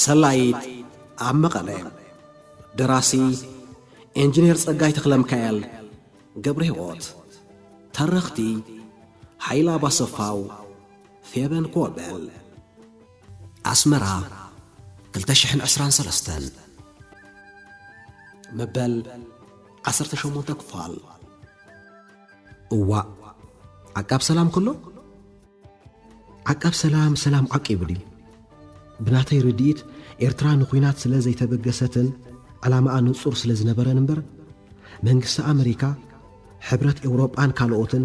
ሰላዪት ኣብ መቐለ ደራሲ ኢንጂነር ጸጋይ ተኽለምካኤል ገብረ ህይወት ተረኽቲ ሓይላ ባሰፋው ፌበን ኮበል፣ ኣስመራ፣ ክልተ ሽሕን ዕስራን ሰለስተን። መበል ዓሰርተ ሸሞንተ ክፋል። እዋእ ዓቃብ ሰላም ከሎ ዓቃብ ሰላም ሰላም ዓቂቡ ድዩ? ብናተይ ርድኢት ኤርትራ ንኩናት ስለ ዘይተበገሰትን ዕላማኣ ንጹር ስለ ዝነበረን እምበር መንግስቲ ኣመሪካ ሕብረት ኤውሮጳን ካልኦትን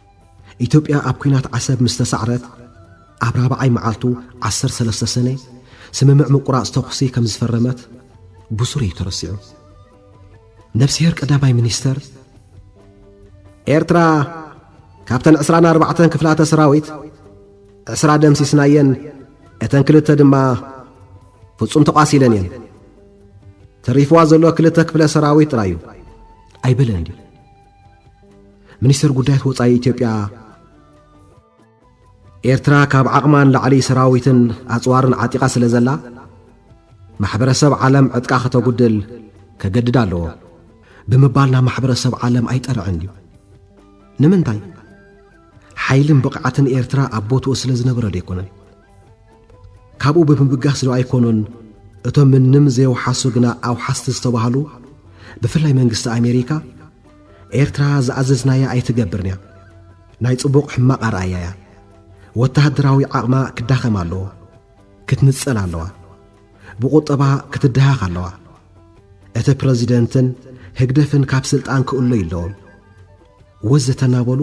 ኢትዮጵያ ኣብ ኩናት ዓሰብ ምስ ተሳዕረት ኣብ ራብዓይ መዓልቱ 13 ሰነ ስምምዕ ምቁራጽ ተኹሲ ከም ዝፈረመት ብሱር እዩ ተረሲዑ። ነብስሄር ቀዳማይ ሚኒስተር ኤርትራ ካብተን 24 ክፍላተ ሰራዊት ዕስራ ደምሲስናየን እተን ክልተ ድማ ፍጹም ተቋሲለን እየን ተሪፍዋ ዘሎ ክልተ ክፍለ ሰራዊት ጥራዩ ኣይበለን ድዩ ሚኒስተር ጉዳያት ወጻኢ ኢትዮጵያ ኤርትራ ካብ ዓቕማ ንላዕሊ ሰራዊትን ኣጽዋርን ዓጢቓ ስለ ዘላ ማሕበረሰብ ዓለም ዕጥቃ ከተጉድል ከገድድ ኣለዎ ብምባል ናብ ማሕበረሰብ ዓለም ኣይጠርዕን እዩ ንምንታይ ሓይልን ብቕዓትን ኤርትራ ኣብ ቦትኡ ስለ ዝነበረ ዶ ኣይኮነን ካብኡ ብምብጋስ ዶ ኣይኮኑን እቶም ምንም ዘየውሓሱ ግና ኣውሓስቲ ዝተባህሉ ብፍላይ መንግስቲ ኣሜሪካ ኤርትራ ዝኣዘዝናያ ኣይትገብርን እያ ናይ ጽቡቕ ሕማቕ ኣርኣያ እያ ወተሃደራዊ ዓቕማ ክዳኸም ኣለዎ ክትንጸል ኣለዋ ብቝጠባ ክትደሃኽ ኣለዋ እቲ ፕረዚደንትን ህግደፍን ካብ ስልጣን ክእሎ ኣለዎም ወዘተ እናበሉ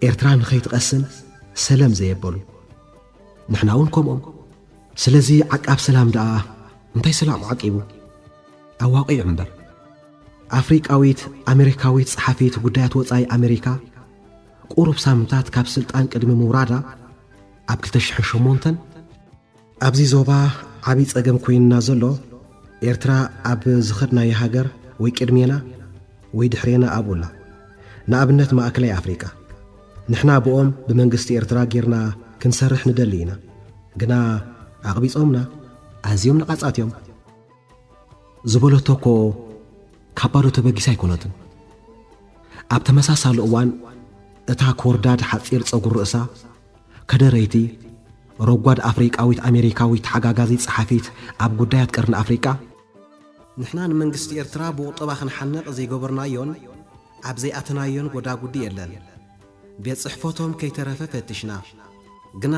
ኤርትራ ንኸይትቐስን ሰለም ዘየበሉ ንሕናውን ከምኦም ስለዚ ዓቃብ ሰላም ደኣ እንታይ ሰላም ዓቂቡ ኣዋቂዑ እምበር ኣፍሪቃዊት ኣሜሪካዊት ጸሓፊት ጉዳያት ወጻኢ ኣሜሪካ ቁሩብ ሳምንታት ካብ ስልጣን ቅድሚ ምውራዳ ኣብ 2008 ኣብዚ ዞባ ዓብዪ ጸገም ኮይንና ዘሎ ኤርትራ ኣብ ዝኸድናዮ ሃገር ወይ ቅድሜና ወይ ድሕሬና ኣብኡላ ንኣብነት ማእከላይ ኣፍሪቃ ንሕና ብኦም ብመንግስቲ ኤርትራ ጌርና ክንሰርሕ ንደሊ ኢና ግና ኣቕቢጾምና ኣዝዮም ነቓጻት እዮም። ዝበለቶ እኮ ካብ ባዶ ተበጊሳ ኣይኮነትን። ኣብ ተመሳሳሊ እዋን እታ ኮርዳድ ሓጺር ጸጉር ርእሳ ከደረይቲ ረጓድ ኣፍሪቃዊት ኣሜሪካዊት ተሓጋጋዚት ጸሓፊት ኣብ ጉዳያት ቀርኒ ኣፍሪቃ ንሕና ንመንግስቲ ኤርትራ ብቑጠባ ክንሓንቕ ዘይገበርናዮን፣ ኣብ ዘይኣተናዮን ጎዳጉዲ የለን። ቤት ጽሕፈቶም ከይተረፈ ፈቲሽና። ግና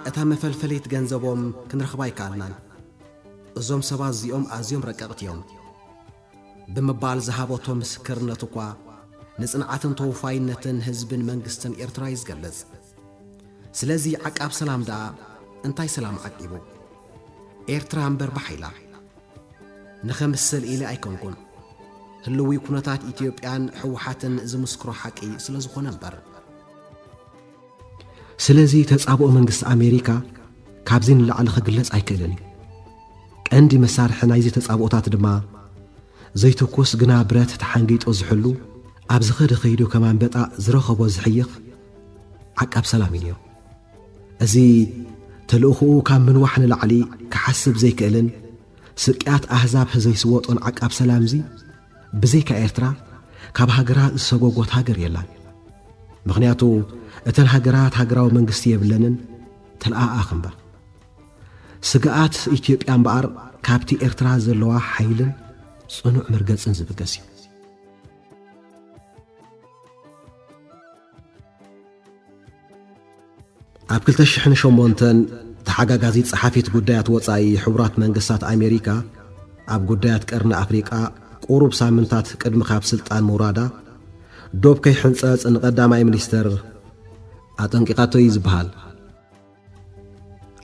እታ መፈልፈሊት ገንዘቦም ክንረኽባ ኣይከኣልናን። እዞም ሰባት እዚኦም ኣዝዮም ረቀቕቲ እዮም። ብምባል ዝሃበቶ ምስክርነት እኳ ንጽንዓትን ተወፋይነትን ህዝብን መንግስትን ኤርትራ እዩ ዝገልጽ። ስለዚ ዓቃብ ሰላም ደኣ እንታይ ሰላም ዓቂቡ? ኤርትራ እምበር ብሓይላ ንኸምስል ኢለ ኣይኮንኩን። ህልዊ ኩነታት ኢትዮጵያን ህወሓትን ዝምስክሮ ሓቂ ስለ ዝኾነ እምበር። ስለዚ ተጻብኦ መንግስቲ ኣሜሪካ ካብዚ ንላዕሊ ክግለጽ ኣይክእልን እዩ። ቀንዲ መሳርሒ ናይዚ ተጻብኦታት ድማ ዘይትኩስ ግና ብረት ተሓንጊጦ ዝሕሉ ኣብ ዝኸደ ከይዱ ከም ኣንበጣ ዝረኸቦ ዝሕይኽ ዓቃብ ሰላም እዩ ነይሩ። እዚ ተልእኹኡ ካብ ምንዋሕ ንላዕሊ ክሓስብ ዘይክእልን ስቅያት ኣህዛብ ህዘይስወጦን ዓቃብ ሰላም እዚ ብዘይካ ኤርትራ ካብ ሃገራት ዝሰጎጎት ሃገር የላን ምኽንያቱ እተን ሃገራት ሃገራዊ መንግስቲ የብለንን ተለኣኣኽ እምበር ስግኣት ኢትዮጵያ እምበኣር ካብቲ ኤርትራ ዘለዋ ሓይልን ጽኑዕ መርገጽን ዝብገስ እዩ ኣብ ክልተ ሽሕን ሸሞንተን ተሓጋጋዚት ጸሓፊት ጉዳያት ወጻኢ ሕቡራት መንግስታት ኣሜሪካ ኣብ ጉዳያት ቀርኒ ኣፍሪቃ ቁሩብ ሳምንታት ቅድሚ ካብ ስልጣን ምውራዳ ዶብ ከይሕንጸጽ ንቀዳማይ ሚኒስተር ኣጠንቂቓቶ እዩ ዝበሃል።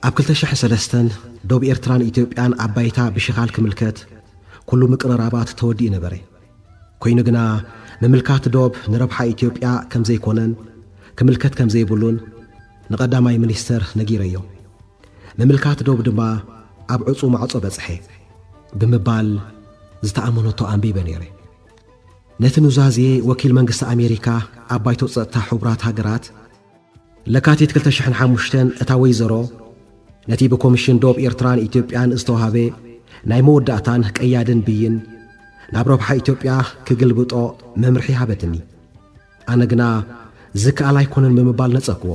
ኣብ ክልተ ሽሕ ሰለስተን ዶብ ኤርትራን ኢትዮጵያን ኣብ ባይታ ብሽኻል ክምልከት ኩሉ ምቅርራባት ተወዲኡ ነበረ። ኮይኑ ግና ምምልካት ዶብ ንረብሓ ኢትዮጵያ ከም ዘይኮነን ክምልከት ከም ዘይብሉን ንቐዳማይ ሚኒስተር ነጊረዮ። ምምልካት ዶብ ድማ ኣብ ዕጹው ማዕጾ በጽሐ። ብምባል ዝተኣመነቶ ኣንቢበ ነይረ። ነቲ ኑዛዜ ወኪል መንግስቲ ኣሜሪካ ኣብ ባይቶ ጸጥታ ሕቡራት ሃገራት ለካቲት ክልተ ሽሕን ሓሙሽተን እታ ወይዘሮ ነቲ ብኮሚሽን ዶብ ኤርትራን ኢትዮጵያን ዝተዋህበ ናይ መወዳእታን ቀያድን ብይን ናብ ረብሓ ኢትዮጵያ ክግልብጦ መምርሒ ሃበትኒ። ኣነ ግና ዝከኣል ኣይኮነን ብምባል ነጸግዎ።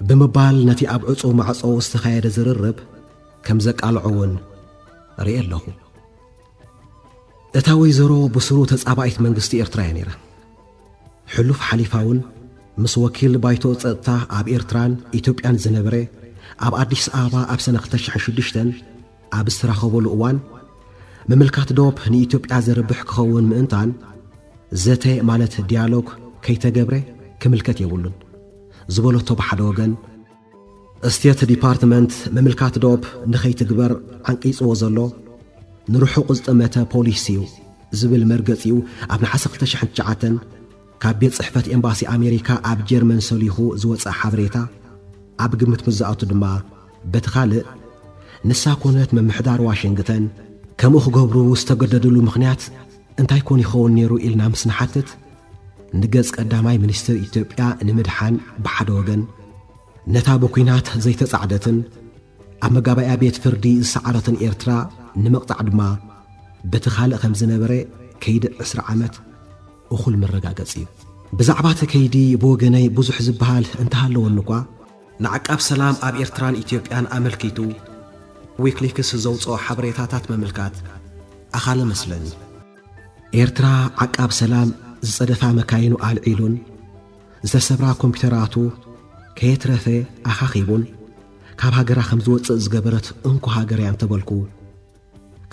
ብምባል ነቲ ኣብ ዕጹው ማዕጾ ዝተኻየደ ዝርርብ ከም ዘቃልዖ እውን ርእየ ኣለኹ። እታ ወይዘሮ ብስሩ ተጻባኢት መንግስቲ ኤርትራ እያ ነይራ። ሕሉፍ ሓሊፋውን ምስ ወኪል ባይቶ ጸጥታ ኣብ ኤርትራን ኢትዮጵያን ዝነበረ ኣብ ኣዲስ ኣበባ ኣብ ሰነ 2006 ኣብ ዝተራኸበሉ እዋን ምምልካት ዶብ ንኢትዮጵያ ዘርብሕ ክኸውን ምእንታን ዘተ ማለት ዲያሎግ ከይተገብረ ክምልከት የብሉን ዝበለቶ ብሓደ ወገን ስቴት ዲፓርትመንት ምምልካት ዶብ ንኸይትግበር ዓንቂጽዎ ዘሎ ንርሑቕ ዝጠመተ ፖሊሲ እዩ ዝብል መርገጺኡ ኣብ ነሓሰ 2009 ካብ ቤት ጽሕፈት ኤምባሲ ኣሜሪካ ኣብ ጀርመን ሰሊኹ ዝወጸ ሓበሬታ ኣብ ግምት ምስ ዝኣቱ ድማ በቲ ካልእ ንሳ ኮነት ምምሕዳር ዋሽንግተን ከምኡ ክገብሩ ዝተገደድሉ ምኽንያት እንታይ ኮን ይኸውን ነይሩ ኢልና ምስ ንሓትት ንገጽ ቀዳማይ ሚኒስትር ኢትዮጵያ ንምድሓን ብሓደ ወገን ነታ ብኲናት ዘይተጻዕደትን ኣብ መጋባእያ ቤት ፍርዲ ዝሰዓረትን ኤርትራ ንምቕጻዕ ድማ በቲ ካልእ ከም ዝነበረ ከይዲ ዕስራ ዓመት እኹል መረጋገጺ እዩ ብዛዕባ እቲ ከይዲ ብወገነይ ብዙሕ ዝበሃል እንተሃለወኒ እኳ ንዓቃብ ሰላም ኣብ ኤርትራን ኢትዮጵያን ኣመልኪቱ ዊክሊክስ ዘውፅኦ ሓበሬታታት ምምልካት ኣኻለ መስለኒ ኤርትራ ዓቃብ ሰላም ዝጸደፋ መካይኑ ኣልዒሉን ዝተሰብራ ኮምፒዩተራቱ ከየትረፈ ኣኻኺቡን ካብ ሃገራ ከም ዝወጽእ ዝገበረት እንኮ ሃገር እያ እንተበልኩ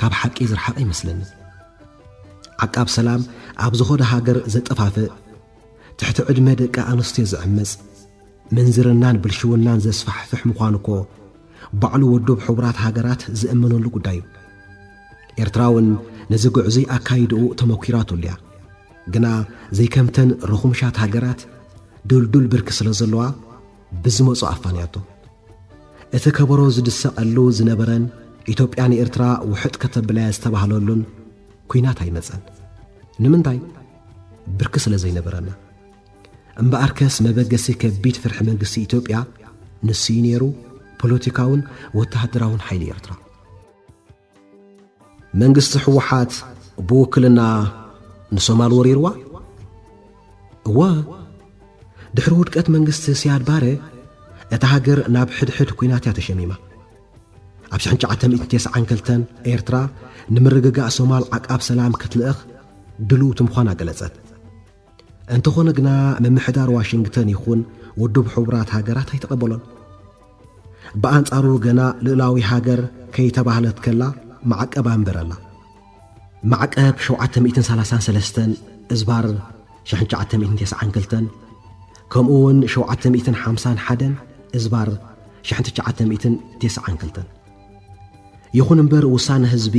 ካብ ሓቂ ዝረሓቐ ይመስለኒ ዓቃብ ሰላም ኣብ ዝኾነ ሃገር ዘጠፋፍእ ትሕቲ ዕድመ ደቂ ኣንስትዮ ዝዕምጽ ምንዝርናን ብልሽውናን ዘስፋሕፍሕ ምዃኑ እኮ ባዕሉ ውዱብ ሕቡራት ሃገራት ዝእምነሉ ጉዳይ እዩ። ኤርትራ እውን ነዚ ግዕዙይ ኣካይድኡ ተመኲራትሉ እያ። ግና ዘይከምተን ረኹምሻት ሃገራት ድልዱል ብርኪ ስለ ዘለዋ ብዝመጾ ኣፋንያቶ። እቲ ከበሮ ዝድሰቐሉ ዝነበረን ኢትዮጵያ ንኤርትራ ውሕጥ ከተብላያ ዝተባህለሉን ኲናት ኣይመጸን። ንምንታይ? ብርኪ ስለ ዘይነበረና። እምበኣርከስ መበገሲ ከቢድ ፍርሒ መንግስቲ ኢትዮጵያ ንሱዩ ነይሩ፣ ፖለቲካውን ወተሃደራውን ሓይሊ ኤርትራ። መንግስቲ ሕወሓት ብውክልና ንሶማል ወሪርዋ? እወ ድሕሪ ውድቀት መንግስቲ ስያድ ባረ እታ ሃገር ናብ ሕድሕድ ኩናት እያ ተሸሚማ ኣብ 1992 ኤርትራ ንምርግጋእ ሶማል ዓቃብ ሰላም ክትልእኽ ድልውቲ ምዃና ገለጸት እንተኾነ ግና ምምሕዳር ዋሽንግተን ይኹን ውድብ ሕቡራት ሃገራት ኣይተቐበሎን። ብኣንጻሩ ገና ልእላዊ ሃገር ከይተባህለት ከላ ማዕቀብ ኣንበረላ። ማዕቀብ 733 እዝባር 1992 ከምኡ እውን 751 እዝባር 1992 ይኹን እምበር ውሳነ ህዝቢ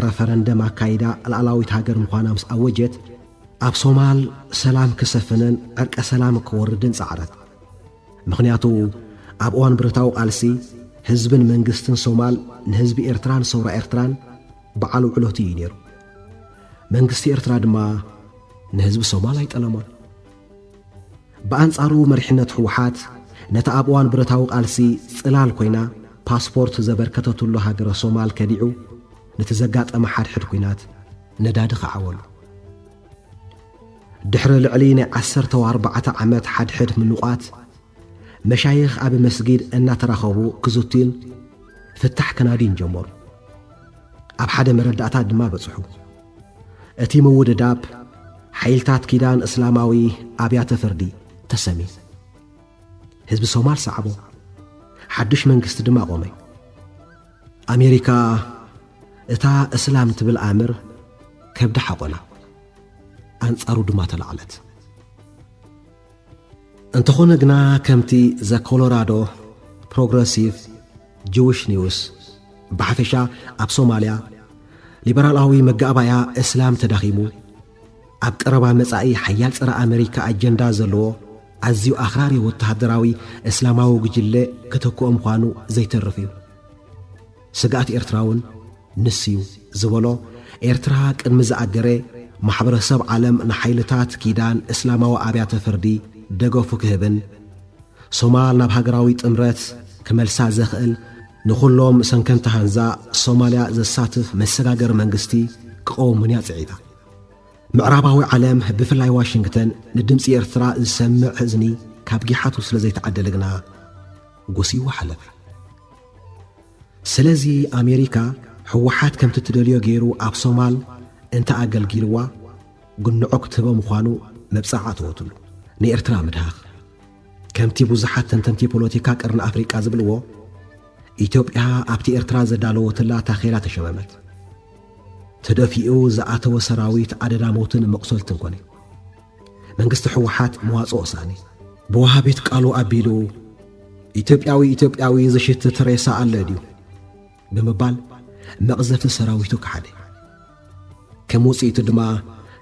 ረፈረንደም ኣካይዳ ልኣላዊት ሃገር ምዃና ምስ ኣወጀት ኣብ ሶማል ሰላም ክሰፍንን ዕርቀ ሰላም ክወርድን ጸዕረት። ምኽንያቱ ኣብ እዋን ብረታዊ ቃልሲ ህዝብን መንግስትን ሶማል ንህዝቢ ኤርትራን ሰውራ ኤርትራን በዓል ውዕሎት እዩ ነይሩ። መንግስቲ ኤርትራ ድማ ንህዝቢ ሶማል ኣይጠለሞን። ብኣንጻሩ መሪሕነት ህወሓት ነቲ ኣብ እዋን ብረታዊ ቃልሲ ጽላል ኮይና ፓስፖርት ዘበርከተትሉ ሃገረ ሶማል ከዲዑ ነቲ ዘጋጠመ ሓድሕድ ኲናት ነዳዲ ክዓወሉ ድሕሪ ልዕሊ ናይ ዓሰርተው ኣርባዕተ ዓመት ሓድሕድ ምንቋት መሻይኽ ኣብ መስጊድ እናተራኸቡ ክዝትዩን ፍታሕ ክናድዩን ጀመሩ። ኣብ ሓደ መረዳእታ ድማ በጽሑ። እቲ ምውድዳብ ሓይልታት ኪዳን እስላማዊ ኣብያተ ፍርዲ ተሰሚ ህዝቢ ሶማል ሰዓቦ ሓዱሽ መንግስቲ ድማ ቆመ። ኣሜሪካ እታ እስላም ትብል ኣምር ከብዳ ሓቆና ኣንጻሩ ድማ ተላዕለት። እንተኾነ ግና ከምቲ ዘ ኮሎራዶ ፕሮግረሲቭ ጅውሽ ኒውስ ብሓፈሻ ኣብ ሶማልያ ሊበራላዊ መጋእባያ እስላም ተዳኺሙ ኣብ ቀረባ መጻኢ ሓያል ጸረ ኣመሪካ ኣጀንዳ ዘለዎ ኣዝዩ ኣኽራሪ ወተሃደራዊ እስላማዊ ጉጅለ ክተክኦ ምዃኑ ዘይተርፍ እዩ ስግኣት ኤርትራ እውን ንስዩ ዝበሎ ኤርትራ ቅድሚ ዝኣገረ ማሕበረሰብ ዓለም ንሓይልታት ኪዳን እስላማዊ ኣብያተ ፍርዲ ደገፉ ክህብን ሶማል ናብ ሃገራዊ ጥምረት ክመልሳ ዘኽእል ንኹሎም ሰንከንቲ ሃንዛ ሶማልያ ዘሳትፍ መሰጋገሪ መንግስቲ ክቐውሙን'ያ ጽዒታ። ምዕራባዊ ዓለም ብፍላይ ዋሽንግተን ንድምጺ ኤርትራ ዝሰምዕ እዝኒ ካብ ጊሓቱ ስለ ዘይተዓደለ ግና ጎስይዎ ሓለፈ። ስለዚ ኣሜሪካ ህወሓት ከምቲ እትደልዮ ገይሩ ኣብ ሶማል እንተ ኣገልጊልዋ ግንዖ ክትህቦ ምዃኑ መብጽዓ ኣተወትሉ። ንኤርትራ ምድሃኽ። ከምቲ ብዙሓት ተንተንቲ ፖለቲካ ቀርኒ ኣፍሪቃ ዝብልዎ ኢትዮጵያ ኣብቲ ኤርትራ ዘዳለወትላ ታኼላ ተሸመመት። ተደፊኡ ዝኣተወ ሰራዊት ኣደዳ ሞትን መቑሰልትን ኮነ። መንግስቲ ሕወሓት መዋጽኦ ሳኒ ብወሃቢት ቃሉ ኣቢሉ ኢትዮጵያዊ ኢትዮጵያዊ ዝሽትት ሬሳ ኣለ ድዩ ብምባል መቕዘፊ ሰራዊቱ ከሓደ። ከም ውጽኢቱ ድማ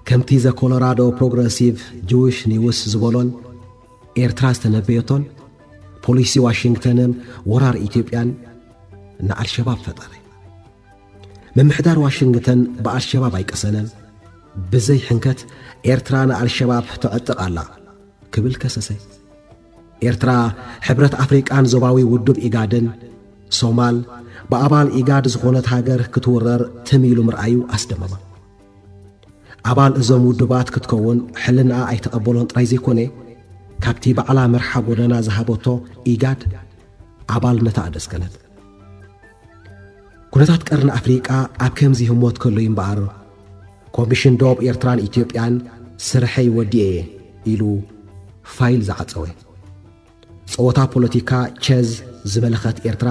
ከምቲ ዘ ኮሎራዶ ፕሮግረሲቭ ጅዊሽ ኒውስ ዝበሎን ኤርትራ ዝተነበየቶን ፖሊሲ ዋሽንግተንን ወራር ኢትዮጵያን ንኣልሸባብ ፈጠረ። ምምሕዳር ዋሽንግተን ብኣልሸባብ ኣይቀሰነን፣ ብዘይ ሕንከት ኤርትራ ንኣልሸባብ ተዕጥቕ ኣላ ክብል ከሰሰ። ኤርትራ፣ ሕብረት ኣፍሪቃን ዞባዊ ውዱብ ኢጋድን፣ ሶማል ብኣባል ኢጋድ ዝኾነት ሃገር ክትውረር ትም ኢሉ ምርኣዩ ኣስደመማ። ኣባል እዞም ውዱባት ክትከውን ሕልናኣ ኣይተቐበሎን ጥራይ ዘይኮነ፣ ካብቲ ባዕላ መርሓ ጎደና ዝሃበቶ ኢጋድ ኣባልነታ ኣደስከለት። ኩነታት ቀርኒ ኣፍሪቃ ኣብ ከምዚ ህሞት ከሎ'ዩ እምበኣር ኮሚሽን ዶብ ኤርትራን ኢትዮጵያን ስርሐይ ወዲኤ ኢሉ ፋይል ዝዓጸወ። ጸወታ ፖለቲካ ቸዝ ዝበለኸት ኤርትራ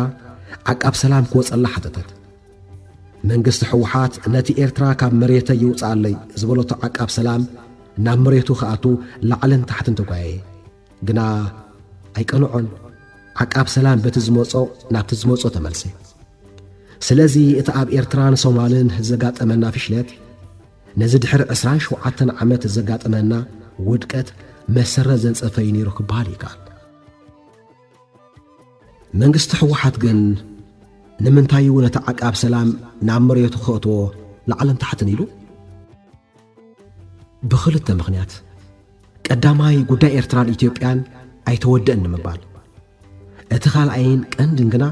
ዓቃብ ሰላም ክወጸላ ሓተተት። መንግስቲ ሕወሓት ነቲ ኤርትራ ካብ መሬተ ይውጽኣለይ ዝበለቶ ዓቃብ ሰላም ናብ መሬቱ ክኣቱ ላዕልን ታሕትን ተጓየየ። ግና ኣይቀንዖን። ዓቃብ ሰላም በቲ ዝመጾ ናብቲ ዝመጾ ተመልሰ። ስለዚ እቲ ኣብ ኤርትራን ሶማልን ዘጋጠመና ፍሽለት ነዚ ድሕሪ 27 ዓመት ዘጋጠመና ውድቀት መሰረት ዘንጸፈ እዩ ነይሩ ክበሃል ይከኣል። መንግስቲ ሕወሓት ግን ንምንታይ እዩ ነቲ ዓቃብ ሰላም ናብ መሬቱ ከእትዎ ላዕልን ታሕትን ኢሉ? ብኽልተ ምኽንያት ቀዳማይ ጉዳይ ኤርትራን ኢትዮጵያን ኣይተወደእን ንምባል እቲ ካልኣይን ቀንድን ግና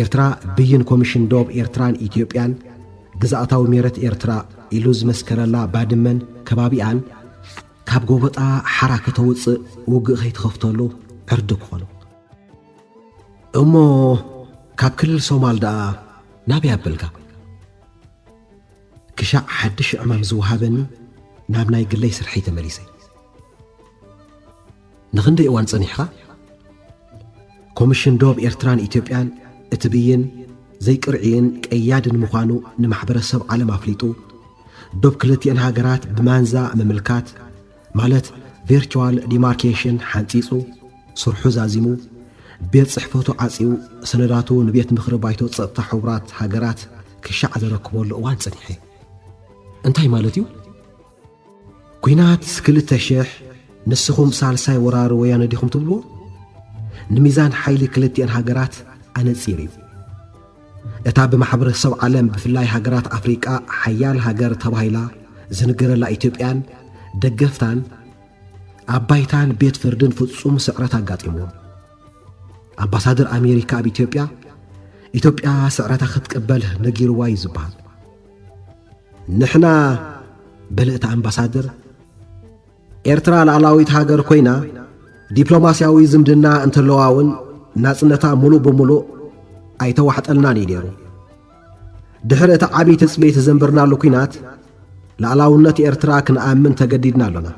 ኤርትራ ብይን ኮሚሽን ዶብ ኤርትራን ኢትዮጵያን ግዛኣታዊ ሜረት ኤርትራ ኢሉ ዝመስከረላ ባድመን ከባቢኣን ካብ ጎበጣ ሓራ ከተውፅእ ውግእ ከይትኸፍተሉ ዕርዲ ክኾኑ እሞ ካብ ክልል ሶማል ደኣ ናበይ ኣበልካ ክሻዕ ሓድሽ ዕማም ዝወሃበኒ ናብ ናይ ግለይ ስርሐይ ተመሊሰ። ንኽንደይ እዋን ጸኒሕኻ? ኮሚሽን ዶብ ኤርትራን ኢትዮጵያን እቲ ብይን ዘይቅርዒን ቀያድን ምዃኑ ንማሕበረሰብ ዓለም ኣፍሊጡ ዶብ ክልቲኤን ሃገራት ብማንዛ ምምልካት ማለት ቬርቹዋል ዲማርኬሽን ሓንጺጹ፣ ስርሑ ዛዚሙ፣ ቤት ጽሕፈቱ ዓጽዩ፣ ሰነዳቱ ንቤት ምኽሪ ባይቶ ጸጥታ ሕቡራት ሃገራት ክሻዕ ዘረክበሉ እዋን ጸኒሐ። እንታይ ማለት እዩ? ኲናት ክልተ ሽሕ ንስኹም ሳልሳይ ወራር ወያነ ዲኹም ትብልዎ? ንሚዛን ሓይሊ ክልቲኤን ሃገራት ኣነጺሩ እዩ። እታ ብማሕበረሰብ ዓለም ብፍላይ ሃገራት ኣፍሪቃ ሓያል ሃገር ተባሂላ ዝንገረላ ኢትዮጵያን ደገፍታን ኣብ ባይታን ቤት ፍርድን ፍጹም ስዕረት ኣጋጢምዎም ኣምባሳደር ኣሜሪካ ኣብ ኢትዮጵያ ኢትዮጵያ ስዕረታ ክትቅበል ነጊርዋ እዩ ዝበሃል ንሕና በለ እቲ ኣምባሳደር ኤርትራ ልኣላዊት ሃገር ኮይና ዲፕሎማስያዊ ዝምድና እንተለዋ እውን ናጽነታ ምሉእ ብምሉእ ኣይተዋሕጠልናን እዩ ነይሩ። ድሕሪ እቲ ዓብዪ ትጽቢት ዝዘንበርናሉ ኲናት ልኣላውነት ኤርትራ ክንኣምን ተገዲድና ኣሎና።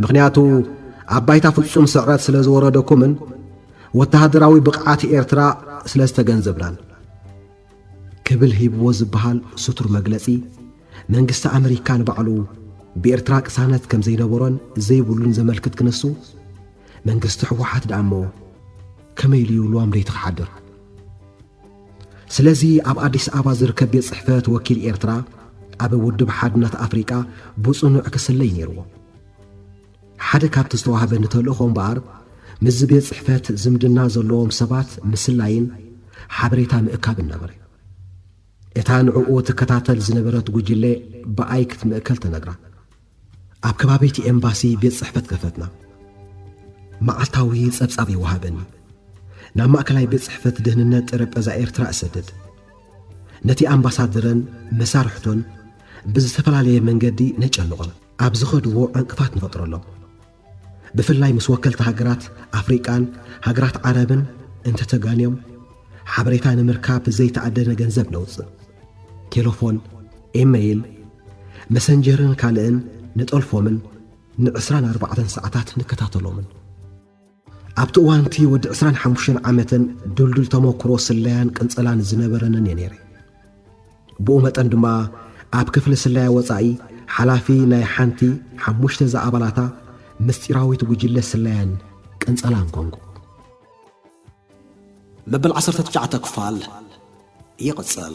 ምኽንያቱ ኣብ ባይታ ፍጹም ስዕረት ስለ ዝወረደኩምን ወተሃደራዊ ብቕዓት ኤርትራ ስለ ዝተገንዘብናን። ክብል ሂብዎ ዝበሃል ስቱር መግለጺ፣ መንግስቲ ኣመሪካ ንባዕሉ ብኤርትራ ቅሳነት ከም ዘይነበሮን ዘይብሉን ዘመልክት ክንሱ፣ መንግስቲ ህወሓት ደኣ'ሞ ከመይ ኢሉ'ዩ ልዋም ለይቲ ክሓድር? ስለዚ ኣብ ኣዲስ ኣበባ ዝርከብ ቤት ጽሕፈት ወኪል ኤርትራ ኣብ ውድብ ሓድነት ኣፍሪቃ ብጽኑዕ ክስለይ ነይርዎ። ሓደ ካብቲ ዝተዋህበኒ ተልእኾ እምበኣር፣ ምስዚ ቤት ጽሕፈት ዝምድና ዘለዎም ሰባት ምስላይን ሓበሬታ ምእካብን ነበረ። እታ ንዕኡ ትከታተል ዝነበረት ጉጅለ ብኣይ ክትምእከል ተነግራ። ኣብ ከባቢ እቲ ኤምባሲ ቤት ጽሕፈት ከፈትና። መዓልታዊ ጸብጻብ ይወሃበኒ። ናብ ማእከላይ ቤት ጽሕፈት ድህንነት ጠረጴዛ ኤርትራ እሰድድ። ነቲ ኣምባሳደረን መሳርሕቶን ብዝተፈላለየ መንገዲ ነጨንቖም። ኣብ ዝኸድዎ ዕንቅፋት ንፈጥረሎም። ብፍላይ ምስ ወከልቲ ሃገራት ኣፍሪቃን ሃገራት ዓረብን እንተተጋንዮም ሓበሬታ ንምርካብ ዘይተኣደነ ገንዘብ ነውጽእ። ቴለፎን፣ ኤመይል፣ መሰንጀርን ካልእን ንጠልፎምን ንዕስራን ኣርባዕተን ሰዓታት ንከታተሎምን። ኣብቲ እዋንቲ ወዲ ዕስራን ሓሙሽተን ዓመተን ድልዱል ተመክሮ ስለያን ቅንጸላን ዝነበረንን እየ ነይረ ብኡ መጠን ድማ ኣብ ክፍሊ ስለያ ወፃኢ ሓላፊ ናይ ሓንቲ ሓሙሽተ ዝኣባላታ ምስጢራዊት ጉጅለ ስለያን ቅንጸላን ኮንኩ መበል ዓሰርተ ትሽዓተ ክፋል ይቕጽል